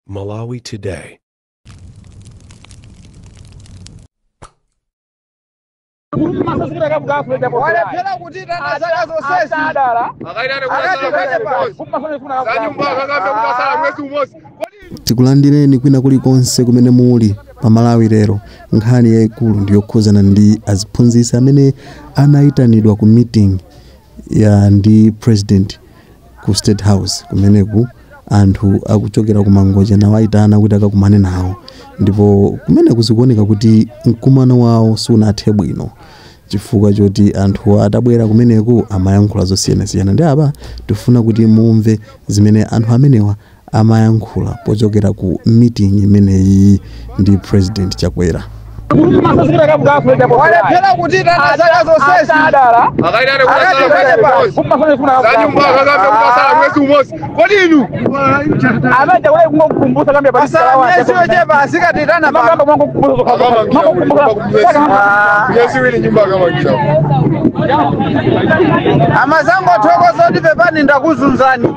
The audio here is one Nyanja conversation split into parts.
Malawi Today. walephera kutiitana zaka zonsezi adala akaitane akatikane pasi kumafanefuna zanyumba akakambe kutatsala mwezi umodzi tikulandireni kwina kulikonse kumene muli pa malawi lero nkhani yayikulu ndi yokhuzana ndi aziphunzitsi amene anayitanidwa ku meeting ya ndi president ku state house kumeneku anthu akuchokera ku mangochi anawaitana kuti akakumane nawo ndipo kumeneku zikuoneka kuti mkumano wawo sunathe bwino chifukwa choti anthu atabwera kumeneku amayankhula zosiyanasiyana nde apa tifuna kuti mumve zimene anthu amenewa amayankhula pochokera ku meeting imeneyi ndi President Chakwera. walephera kutiitana zaka zonsezi patsala miyezi yochepa asikatikana pano amazangothokoza kuti pepani ndakuzunzani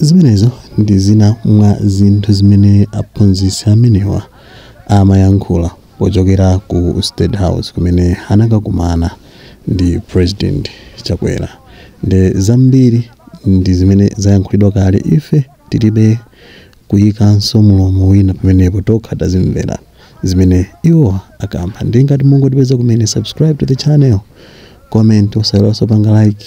Zimenezo ndi zina mwa zinthu zimene aphunzitsi amenewa amayankhula pochokera ku state house kumene anakakumana ndi president Chakwera nde zambiri ndi zimene zayankhulidwa kale ife tilibe kuyikanso mlomo wina pamenepo tokha tazimvera zimene iwo akamba nde ngati mungotipeza kumene subscribe to the channel comment osaiwalanso kupanga like